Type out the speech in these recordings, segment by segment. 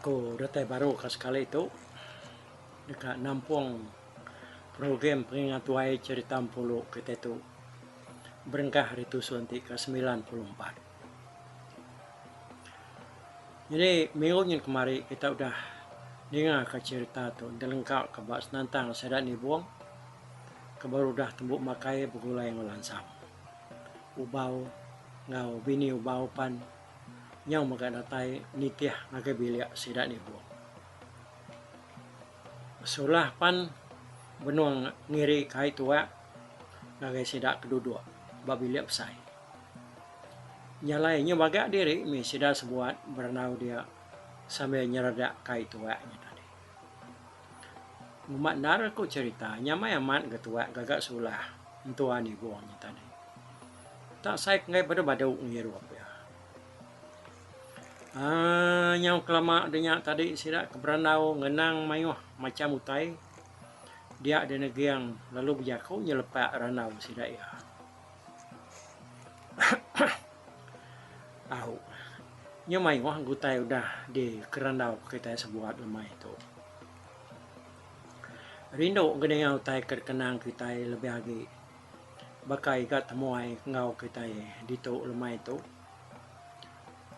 Aku datai baru ka sekali tu deka nampung program pengingat tuai cherita empu lu kitai tu berengkah hari tu suntik ke semilan puluh empat. Nyadi minggu nyin kemari kita udah ningaka cherita tu enda lengka ka ba senantang sida nibung ke baru udah tembu makai begulai enggau lansang. Ubau enggau bini ubau pan nyau mega datai nitih ngagai bilik sida nibung. Sulah pan benung ngiri kai tuak ngagai sida ke duduk ba bilik besai. Nya alai nya maga diri mih sida sebuat berandau dia sambil nyeredak kai tuak nya tadi. Uma endar aku cherita nyamai amat ga tuak gaga sulah entuan Ibuh nya tadi. Tak sai penggai badu-badu ngirup dia. Aaa nyau kelama denya tadi sida ke berandau ngenang maioh macham utai dia di neging lalu bejaku nyelepak randau sida iya. Au. Nya mayuh gutai udah dikerandau kitai sebuat lemai tu. Rindu ngeninga utai ke dikenang kitai lebih agi baka iga temuai enggau kitai ditu lemai tu.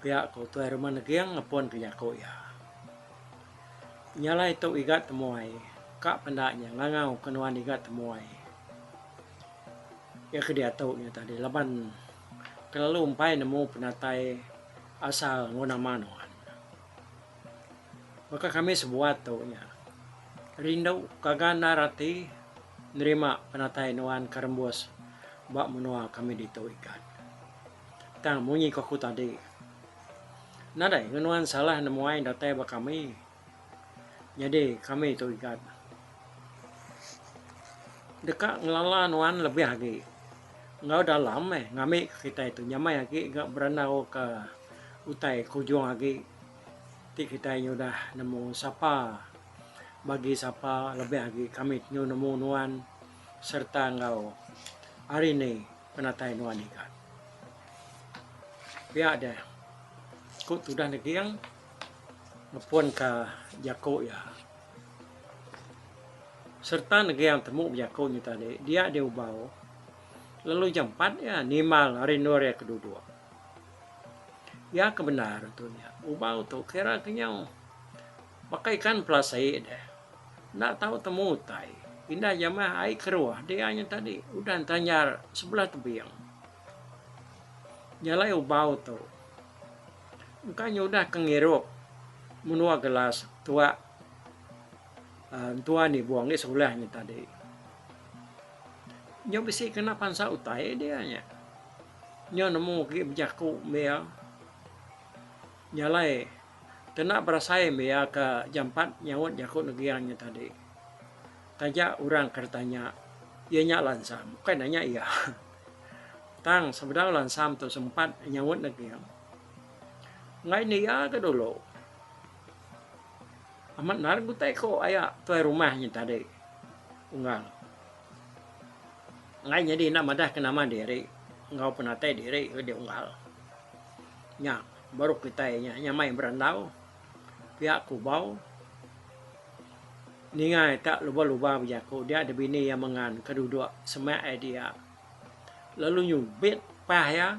Pia ku Tuai Rumah Neging ngepunka jaku iya. Nya alai tu iga temuai ka penda nya ngangau ke nuan iga temuai. Iya ke diatu nya tadi laban kelalu empai nemu penatai asal enggau nama nuan. Baka kami sebuat tu nya, rindu gaga endar ati nerima penatai nuan ke rembus ba menua kami ditu ikan. Tang munyi ku aku tadi, nadai ngenuan salah nemuai datai ba kami. Nyadi kami tu igat deka ngelala nuan lebih agi enggau dalam meh ngambika ke kitai tu nyamai agi ga berandauka utai ke ujung agi ti kitai nyudah nemu sapa bagi sapa lebih agi kami nyu nemu nuan sereta enggau hari ni penatai nuan igat. Pia deh ku tudah neging. Ngepun ka jaku iya serta negeang temu bejaku nya tadi dia di Ubau lalu jampat iya nimbal ari endur iya ke duduk. Iya ke bendar tu nya Ubau tu kira ke nyau baka ikan pelasai deh enda tau temu utai indah jamah ai keruh dia nya tadi udah enta nyar sebelah tebing. Jalai ubau tu engka nyudah ke ngirup menua gelas tuak entua nibung ngi sulah nya tadi. Nya bisi kena pansa utai dia nya. Nya nemu agi bejaku mbe iya. Jalai kena berasai mbe iya ke jampat nyaut jaku Negeri nya tadi. Taja orang ke ditanya iya nya lansang bukai nanya iya. Tang sebedau lansam tu sempat nyaut negil. Enggai dia ke dulu. Amat endar ke utai ko aya tuai rumah nya tadi. Unggal. Enggai nyadi enda madah ke nama diri enggau penatai diri ke dia unggal. Nya baru kitai nya nyamai berandau pia kubau. Ningai ka lubang-lubang bejaku dia ada bini iya mengan ka duduk semak ai dia. Lalu nyubit pah iya.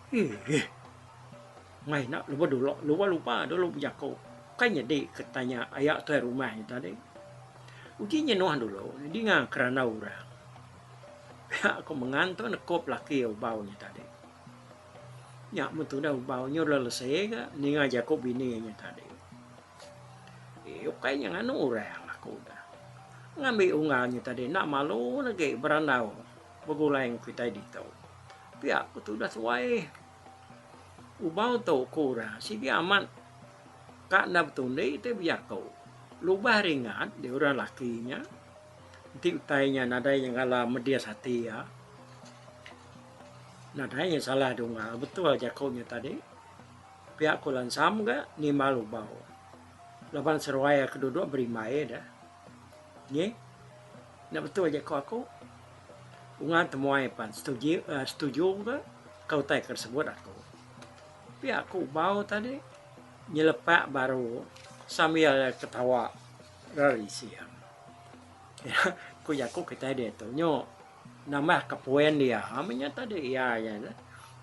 Iih. Mai enda lebuh dulu lubang-lubang dulu bejaku kai nyadi ke tanya aya tuai rumah nya tadi. Uji nyenuh dulu dinga kerandau orang. Pia ku mengan tu nekup laki ubau nya tadi. Nya mun tudah ubau nya udah lese ga ninga jaku bini nya tadi. Eh ukai nya nganu orang aku dah. Ngambi unga nya tadi enda malu lagi berandau begulai enggau kitai ditu. Pia ku tudah tuai ubau tu ku orang sigi amat ka enda betundi ti bejaku. Lubah ringat di orang laki nya. Enti utai nya nadai nya ngala medis ati iya, nadai nya salah dungga. Betul jaku nya tadi, pia ku lansam ga nimbal ubau. Laban seruai ke duduk berimbai deh. Nyi nya betul jaku aku. Ungan temuai pan setuju aaa setuju ga ka utai ke sebut aku. Pia ku ubau tadi nyelepak baru sambil ketawa. Rari Siang. Nya ku jaku kitai diatu nyu nambah ka poin dia menya tadi iya iya nya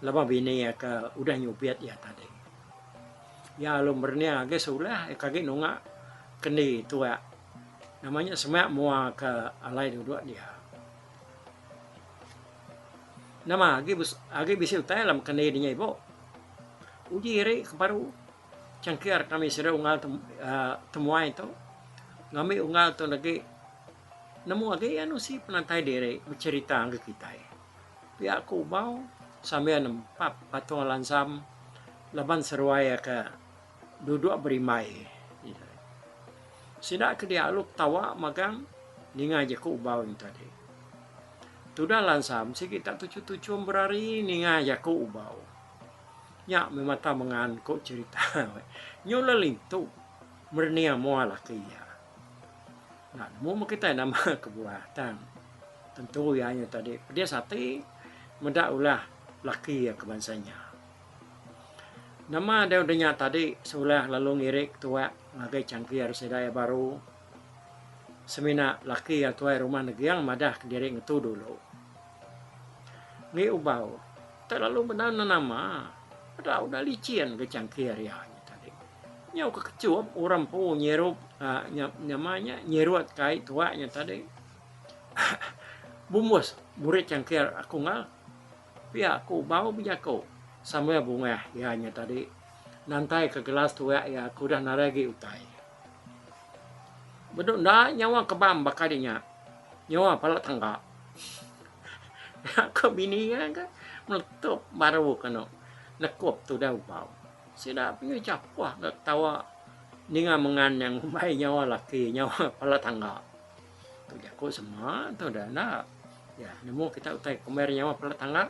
laban bini iya ke udah nyubit iya tadi. Iya alu merening agi sulah iya ke agi nunga kendi tuak nama nya semak mua ke alai duduk dia. Nama agi agi bisi utai alam kendi di nya ibu. Uji iri ke baru. Cangkir kami sida unggal temuai tu ngambi unggal tu agi nemu agi iya nusi penantai diri becerita ngagai kitai. Pia aku Ubau sambil nempap patung lansam laban seruai iya ke duduk berimbai. Sida ke dia alu ketawa magang ninga jaku Ubau nya tadi. Tudah lansam sigi tak tuchum-tuchum berari ninga jaku Ubau. Nya memang tau mengan ko cerita nyu la lintu merening moa laki iya. Enda nemu meh kitai nama kebuah tang tentu iya nyu tadi pedis ati meda ulah laki iya ke bansa nya. Nama dau denya tadi sulah lalu ngirik tuak ngagai changkir sida iya baru semina laki iya tuai rumah neging madah kediri ngetu dulu. Ngi Ubau, telalu bendar nenama peda udah licin ke changki ari ai tadi. Nyau ke kechup orang empu nyirup nyama nya nyirut ke ai tuak nya tadi. Bumbus murit changki aku enggau pia ke Ubau bejaku sambil bungah iya nya tadi nantai ke gelas tuak iya ke udah narai agi utai. Bedu enda nyawa kebam baka nya. Nyua pala tangga. Aku bini iya ke meletup baru kenu nekup tudah ubau. Sida penyu chapuh enggau ketawa ninga mengan nya ngumbai nyawa laki nyawa pala tangga. Tu jaku sema tu dah enda. Ya, nemu kita utai kumbai nyawa pala tangga.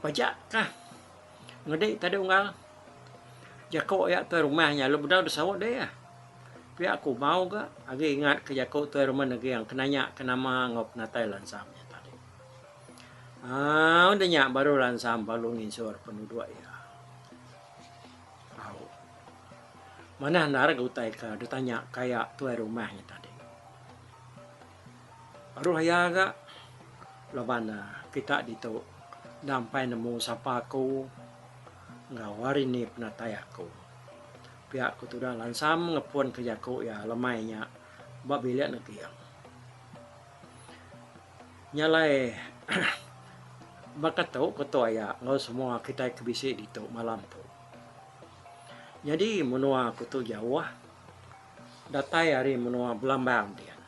Pajak kah Ngedi tadi unggal jaku iya tuai rumah nya lalu bedau disaut deh iya. Pia ku Mau ga agi ingat ke jaku tuai rumah negeang ke nanya ke nama enggau penatai lansam iya tadi. Au deh nya baru lansam balu nginsur penuduk iya. Au. Manah endar ga utai ke ditanya ka iya tuai rumah nya tadi. Aruh iya ga laban kita ditu enda ampai nemu sapa aku enggau hari ni penatai aku. Pia ku tudah lansam ngepun ke jaku iya lemai nya ba bilik neging. Nya alai baka tu ku tok iya enggau semua kitai ke bisi ditu malam tu. Nyadi menua aku tu jauh. Datai ari menua Belambang dian.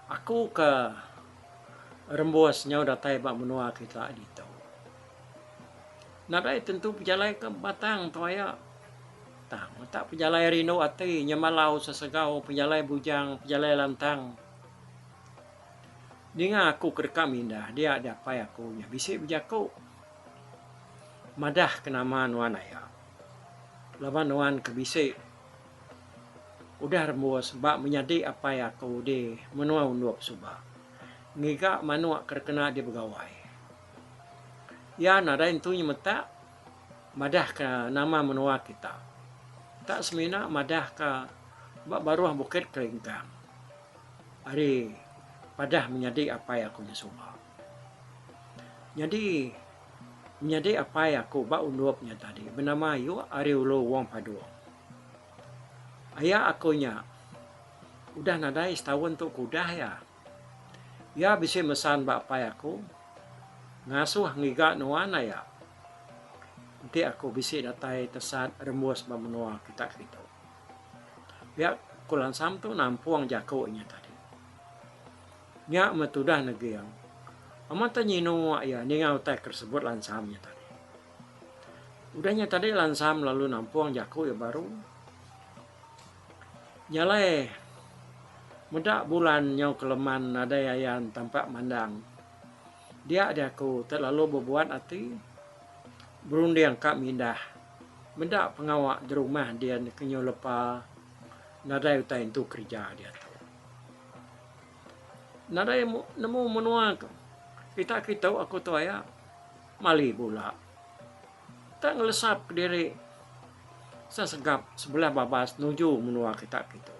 Aku ke rembus nyau datai ba menua kita ditu. Nadai tentu pejalai ke batang tu aya. Tang utak pejalai rindu ati nyemalau sesegau pejalai bujang, pejalai lantang. Ninga aku ke deka mindah dia diapai aku nya bisi bejaku. Madah ke nama nuan aya. Laban nuan ke bisi udah rembus ba menyadi apai aku di menua undup suba ngiga manuk ke dikena dibegawai. Iya nadai entu nyemetak madah ke nama menua kita. Tak semina madah ke ba baruh Bukit Kelingkang ari padah menyadi apai aku di suba. Nyadi nyadi apai aku ba undup nya tadi benama ayu ari ulu Wong Padong. Aya aku nya udah nadai setaun tu ku udah iya. Iya bisi mesan ba apai aku ngasuh ngiga nuan aya enti aku bisi datai tesat rembus ba menua kita kelitu. Pia ku lansam tu nampung jaku nya tadi. Nya meh tudah Neging. Amat teh nyinu mak iya ninga utai ke disebut Lansam nya tadi. Udah nya tadi Lansam lalu nampung jaku iya baru. Jalai meda bulan nyau ke leman nadai ayan tampak mandang. Dia jaku ti lalu bebuat ati berunding ka mindah meda pengawa derumah din ke nyau lepa nadai utai entu kerja diatu. nadai nemu menua tu pita kitu aku tu aya mali bula nta ngelesap diri sesegap sebelah babas nuju menua kita kitu.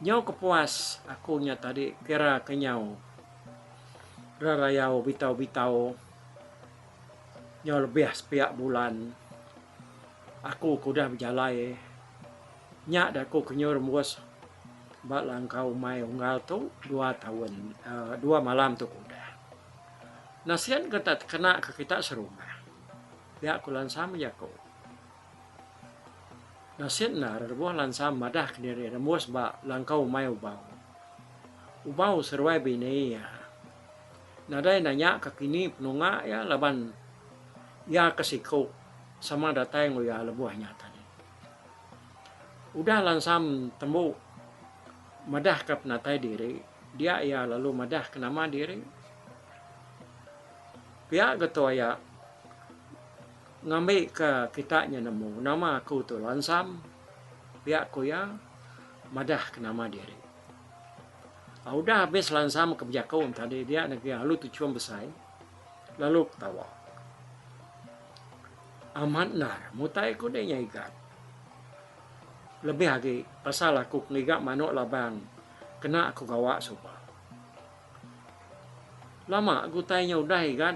Nyau kepuas aku nya tadi kira ke nyau rerayau bitau bitau nyau lebih sepiak bulan aku ke udah bejalai. Nya daku Kenyur Mus ba langkau umai unggal tu dua taun dua malam tu ku udah. Nasien ke enda tekena ke kita serumah. Pia ku Lansam jaku. Nasien enda rerebuh Lansam madah kediri iya Mus ba langkau umai Ubau. Ubau seruai bini iya. Nadai nanya ka kini penunga iya laban iya ke siku sama datai enggau iya lebuh nya tadi. Udah Lansam tembu madahka penatai diri, dia iya lalu madahka nama diri. Pia ga tu aya ngambika kita nya nemu nama aku tu Lansam, pia ku iya madahka nama diri. Udah habis Lansam ke bejaku tadi dia ngagai alu Tuchum Besai lalu betawa. Amat ndar mutai aku deh ngiga lebih agi pasal aku ngiga manok labang kena aku gawa suba. Lama ke utai nya udah iga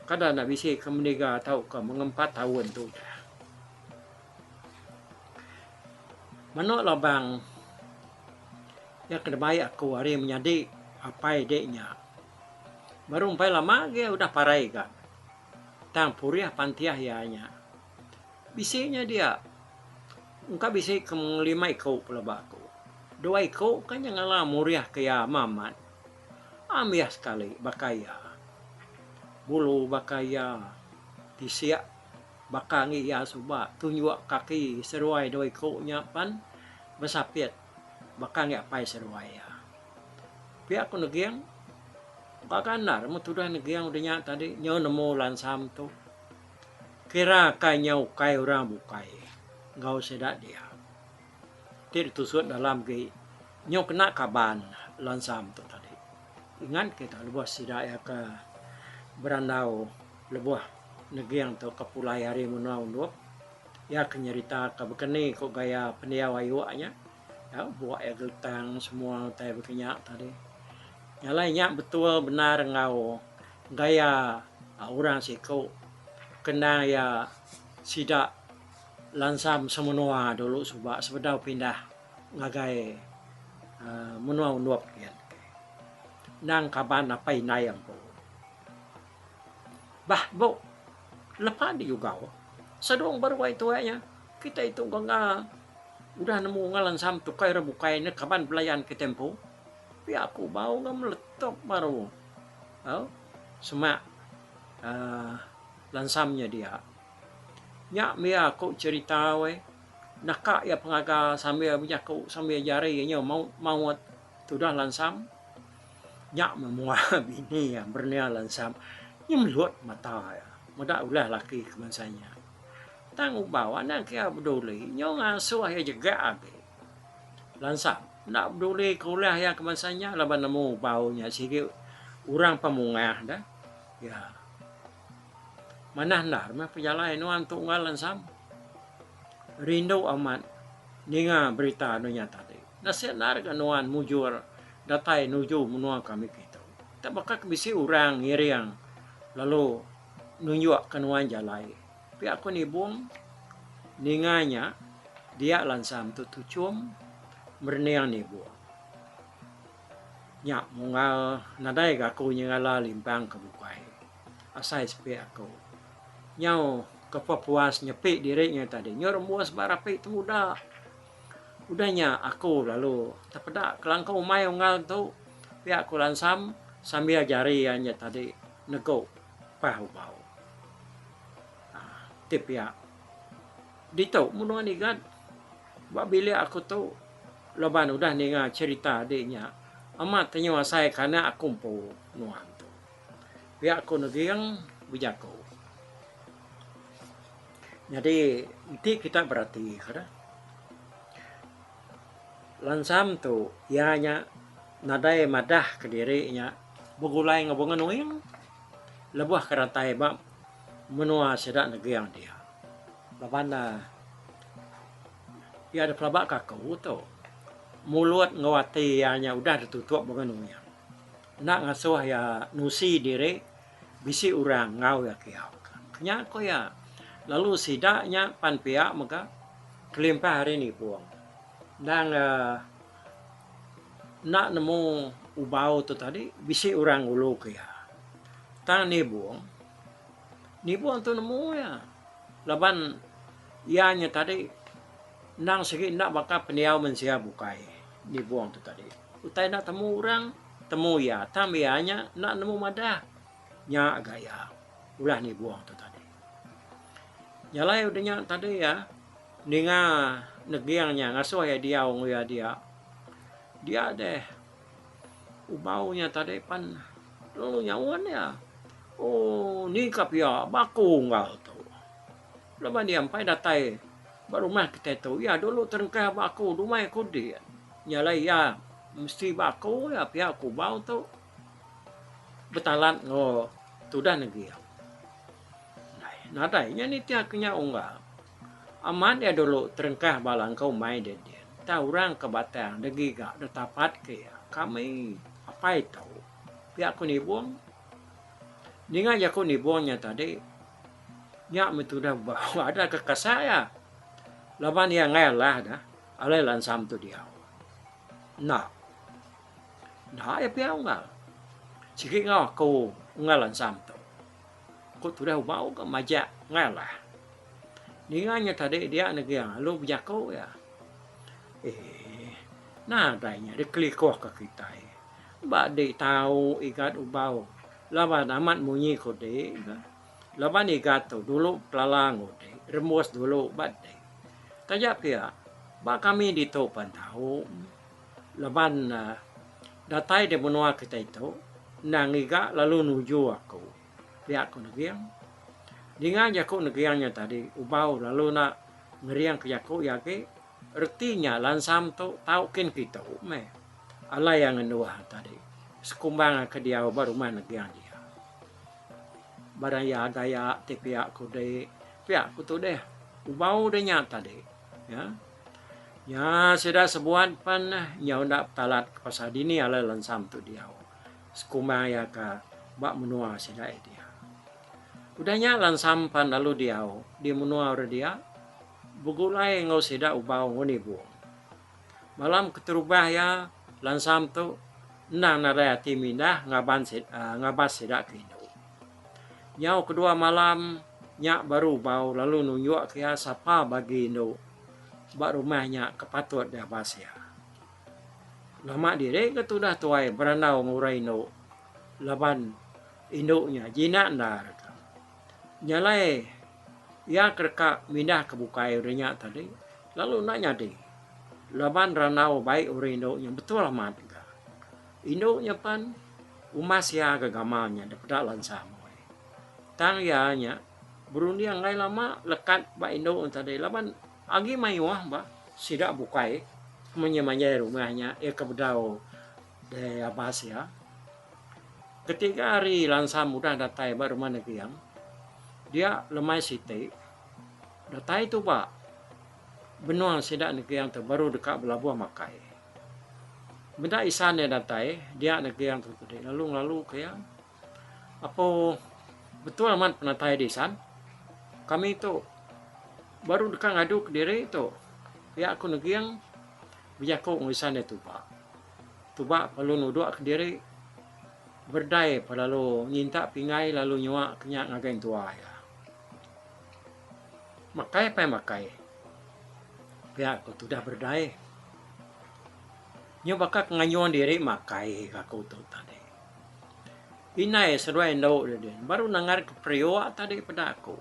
kada enda bisi ke mendiga tau ke meng empat taun tu udah. Manok labang nya ke nembai aku ari menyadi apai deh nya baru empai lama agi udah parai iga. Tang purih pantiah iya nya. Bisi nya dia. Engka bisi ke ngelima iku pelaba aku. Dua iku ka nya ngalah murih ke iya mamat. Ambih sekali baka iya. Bulu baka iya tisik baka ngi iya suba tunjuk kaki seruai dua iku nya pan besapit baka ngi apai seruai iya. Pia ku Neging, Baka endar mu tudah Neging udah nya tadi nyau nemu Lansam tu. Kira kai nya ukai orang bukai enggau sida dia. Ti ditusuk dalam agi nyau kena kaban Lansam tu tadi. Ingat kita lebuh sida iya ke berandau lebuh Neging tu ke pulai ari menua Undup, iya ke nyerita ka baka ni ku gaya pendiau ayu nya. Nya buak iya geltang semua utai baka nya tadi. Nya alai nya betul bendar enggau gaya orang siku ke endang iya sida lansam semenua dulu suba sebedau pindah ngagai aaa menua Ondup nyin. Endang kaban apai indai ampu. Bah bu. Lepa digugau Sadong ba ruai tuai nya, kitai tu enggau enggau udah nemu ngalan Sam tukai orang bukai enda kaban belayan kitai empu. Pia aku bau enggau meletup baru au semak aaa lan Sam nya dia. Nya mia aku cerita weh naka iya pengaga sambil benyaku sambil jari inya maut maut tudah lan Sam. Nya memua bini iya Bernia Lansap nyemelut mata iya meda ulah laki ke bansa nya. Tang Ubau enda kira beduli nyu ngasuh iya jega agi. Lansap enda beduli ke ulah iya ke bansa nya laban nemu Ubau nya sigi orang pemungah deh iya. Manah endar meh pejalai nuan tu enggau Lansap. Rindu amat ninga berita anu nya tadi. Nasib endar ga nuan mujur. datai nuju menua kami kitu. Tang baka ke bisi orang ngiring lalu nunjukka nuan jalai. Pia aku nibung ninga nya dia lansam tu tuchum merening nibung. Nya munggal nadai ga aku nyengala limpang ke bukai. Asai sepi aku nyau kepepuas nyepi diri nya tadi. Nyau rembus ba rapi temuda. Udah nya aku lalu tepeda kelangkau umai unggal tu pia ku Lansam sambil jari iya nya tadi negu pah ubau. Ti pia ditu mun nuan igat ba bilik aku tu laban udah ninga cherita adi nya amat tenyu asai ke anak aku empu nuan tu. Pia ku Neging bejaku. Nyadi enti kita beratika dah lansam tu iya nya nadai madah ka diri nya begulai enggau bunga nuing lebuh ka datai ba menua sida neging dia. Laban ne iya da pelaba ka aku tu mulut enggau ati iya nya udah ditutup bunga nuing enda ngasuh iya nusi diri. Bisi orang enggau iya kiau ka. Nya ku iya. Lalu sida nya pan pia mega kelimpah ari nipung. Endang enda nemu ubau tu tadi bisi orang ngulu ke iya. Tang nibung, nibung tu nemu iya laban iya nya tadi endang sigi enda baka pendiau mensia bukai nibung tu tadi. Utai enda temu orang, temu iya. Tam iya nya enda nemu madah. Nya ga iya ulah nibung tu tadi. Jalai udah nya tadi iya ninga neging nya ngasuh iya diau enggau iya dia. Dia deh ubau nya tadi pan lalu nyaun iya. Ooh ni ka pia baka unggal tu. Laban iya empai datai ba rumah kitai tu, iya dulu terengkah ba aku dumai aku dik. Nya alai iya mesti ba aku iya pia kubau tu betalat enggau tudan agi. Nadai nya nitihka nya unggal. Amat iya dulu terengkah ba langkau mai dia din. Entah orang ke batang da giga da tapat ke iya. Kami apai tu pia ku nibung ninga jaku nibung nya tadi. Nya meh tudah bau adat ke kasa iya. Laban iya enggai alah dah, alai lansam tu diau. Enda. Enda iya pia unggal. Sigi enggau aku unggal lansam tu. Ku tudah bau ke majak enggai alah. Ninga nya tadi dia negi lalu bejaku iya. Eeh. Nadai nya dikelikuh ke kitai. Ba di tau igat ubau. Laban amat munyi ku di ga. Laban iga tu dulu pelala enggau di, rembus dulu ba di. Taja pia, ba kami ditu pan tau laban datai di menua kitai tu endang iga lalu nuju aku. Pia ku Neging. Ninga jaku Neging nya tadi, Ubau lalu enda ngerinka jaku iya agi. Reti nya lansam tu tau kin kitu meh alai iya ngenua tadi sekumbang iya ke diau ba rumah neging dia. Barang iya agai iya ti pia kudi pia ku tudih ubau dia nya tadi ya. Nya sida sebuat pen inya enda betalat ke pasal dini alai lansam tu diau sekumbang iya ke ba menua sida iya dia. Udah nya lansam pan lalu diau di menua orang dia. Begulai enggau sida ubau enggau nibung. Malam keterubah iya, Lansam tu endang nadai ati mindah ngaban ngabas sida ke indu. Nyau kedua malam nya baru ubau lalu nunjukka iya sapa bagi indu ba rumah nya ke patut diabas iya. Nama diri ke tudah tuai berandau enggau orang indu laban indu nya jinak endar ka. Nya alai iya ke deka mindahka bukai uri nya tadi lalu enda nyadi laban randau bai uri indu nya betul amat ga. Indu nya pen umas iya gegama nya dep eda lansa meh. Tang iya nya berunding alai lama lekat ba indu nya tadi laban agi mayuh bah sida bukai manjai-manjai rumah nya iya ke bedau Dei abas iya. Ketiga hari Lansam udah datai ba rumah Negeang, dia lemai siti, datai tu ba benung sida Negeang tu baru deka belabuh makai. Meda isan iya datai, dia Negeang tu tadi lalu ngelaluka iya. Apo betul amat penatai di Isan? Kami tu baru deka ngadu kediri tu, pia ku Neging bejaku enggau Isan iya tuba. Tuba lalu nuduk kediri berdai pa lalu nyintak pinggai lalu nyua ke nya ngagai entua iya. Makai pai makai, pia ku tudah berdai. Nyu baka ke ngayun diri makai aku tu tadi. Indai seduai endu didin baru nanggarka periuk tadi peda aku.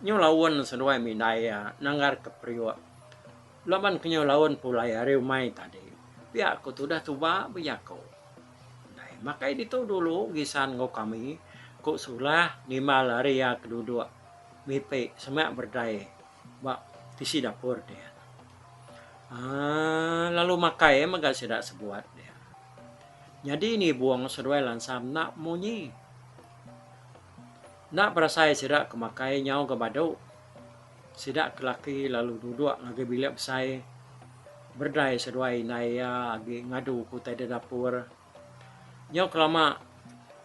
Nyu laun seduai mih indai iya nanggarka periuk laban ke nyu laun pulai ari umai tadi pia ku tudah tuba ba jaku. Indai makai ditu dulu gisan enggau kami ku sulah nimbal ari iya ke duduk mipi sema berdai ba tisi dapur diak. Aaa lalu makai mega sida sebut diak. Nyadi ni bung seduai lansa mna munyi. Enda berasai sida ke makai nyau ga badu. Sida ke laki lalu duduk ngagai bilik besai berdai seduai indai iya agi ngadu ke utai da dapur. Nyau ke lama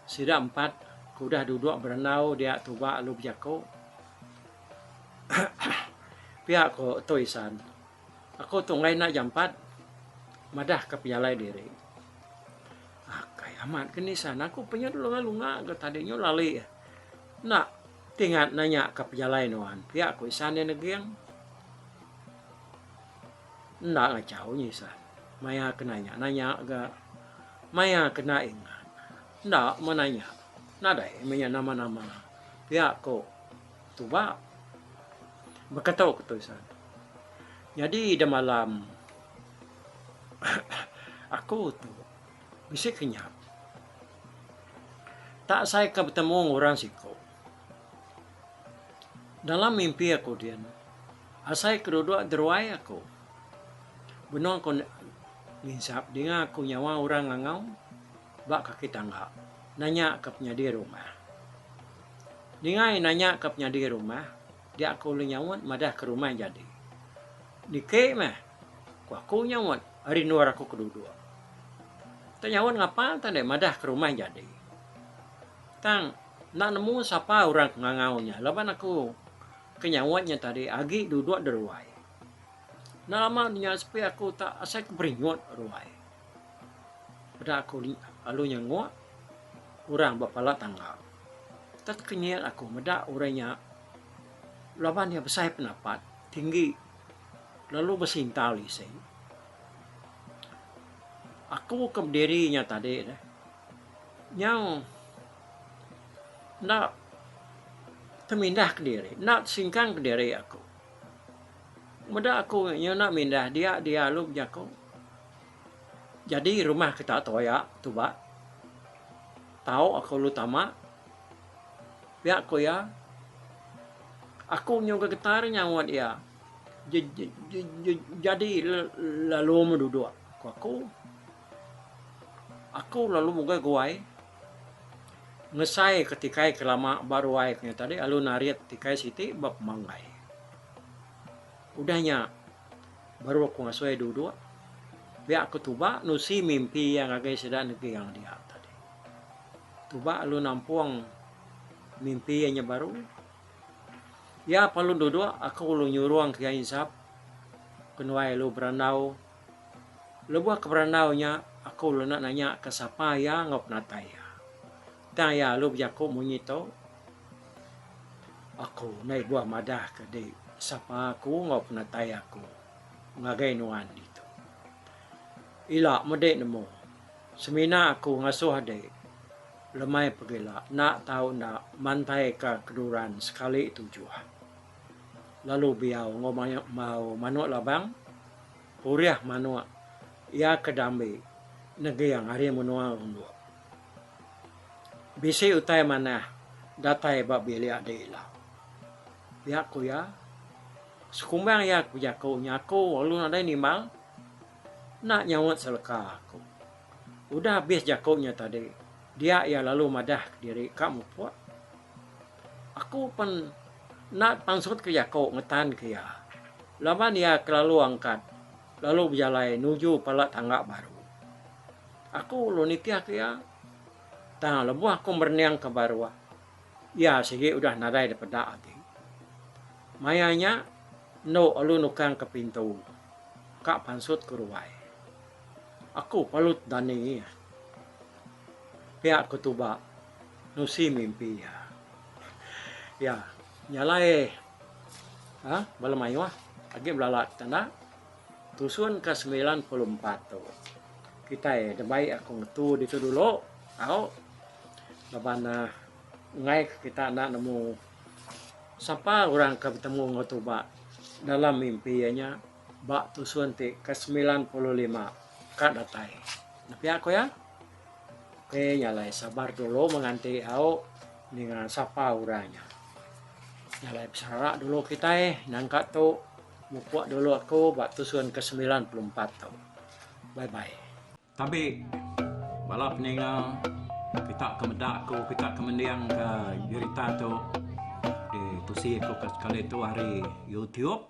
sida empat ke udah duduk berandau dia tuba lalu bejaku. Pia ko Tui San. Aku tu enggai enda jampat madahka pejalai diri. Akai amat ke nisan aku penya dulu ngai lunga ke tadi nyu lali enda tingat nanya ka pejalai nuan pia ku isan iya neging. Enda ngachau nyi isan maya ke nanya nanya ga maya ke enda ingat enda meh nanya nadai meh iya nama nama pia ku Tuba. Baka tau ke tu Isan. Nyadi ida malam aku tu bisi ke nya. Tak asai ke betemu enggau orang siku. Dalam mimpi aku din, asai ke duduk deruai aku. Benung ku nginsap dinga aku nyawa orang ngangau. Ba kaki tangga. Nanya ke penyadi rumah. Ningai nanya ke penyadi rumah, dia ke ulih nyaut madah ke rumah jadi. Niki meh, ku aku nyaut ari endor aku ke duduk. Enda nyaut ngapa tang deh madah ke rumah jadi. Tang enda nemu sapa orang ke ngangau nya laban aku ke nyaut nya tadi agi duduk di ruai. Enda lama nya sepi aku tak asai ke beringut ruai. Peda aku lalu nyenguk orang ba pala tangga. Tekenyit aku meda orang nya laban iya besai pendapat, tinggi lalu besintau lisi. Aku ke bediri nya tadi deh nyau enda temindah kediri, enda tesingkang kediri aku. Meda aku nyau enda mindah dia dia lalu bejaku. Jadi rumah kita toya tuba tau aku lalu tama pia ku iya aku nyungka getah ri nyaut iya jadi lalu meh duduk ku aku aku lalu mugah guai ngesai ke tikai ke lama ba ruai ke nya tadi lalu narit tikai siti ba pemanggai udah nya. Baru aku ngasuh iya duduk. Pia aku tuba nusi mimpi iya ngagai sida negeang dia tadi. Tuba lalu nampung mimpi iya nya baru. Iya palu duduk aku lalu nyurung ke iya insap kenuai lalu berandau. Lebuh ke berandau nya aku lalu enda nanya ka sapa iya enggau penatai iya. Tang iya alu bejaku munyi tu, Aku ndai buah madah ke di sapa aku enggau penatai aku ngagai nuan ditu. Ila mede nemu, semina aku ngasuh ade Lemai Pegila enda tau enda mantaika keduran sekali tujuh. Lalu Biau enggau Mau Manuk Labang purih manuk iya ke diambi neging ari menua Runduk. Bisi utai manah datai ba bilik dek ila. Pia ku iya, sekumbang iya ke bejaku nya aku lalu nadai nimbal enda nyaut seleka aku. Udah abis jaku nya tadi, dia iya lalu madah diri ka mupuk. Aku pen enda pansutka jaku ngetan ke iya laban iya kelalu angkat. Lalu bejalai nuju pala tangga baru. Aku lalu nitih ke iya. Tang lebuh aku merening ke baruh, iya sigi udah nadai dipeda agi. Maya nya, endo lalu nukang ke pintu ka pansut ku ruai. Aku palut dani iya. Pia aku tuba nusi mimpi iya. Iya nyalai. Hah bala mayuh agi belala kita enda tusun ka semilan puluh empat tu kitai dah baik aku ngetu ditu dulu tau laban uhh enggai ka kita enda nemu sapa orang ke betemu enggau tuba dalam mimpi iya nya ba tusun ti ke semilan puluh lima ka datai nepiak ku iya. Okey nya alai sabar dulu menganti au ninga sapa orang nya. Nya alai besara dulu kitai nangka tu mupuk dulu aku ba tusun ke semilan puluh empat tu. Bye bye. Tabi bala peninga kita ke meda ku kita ke mendingka berita tu ditusi ku sekali tu ari youtube.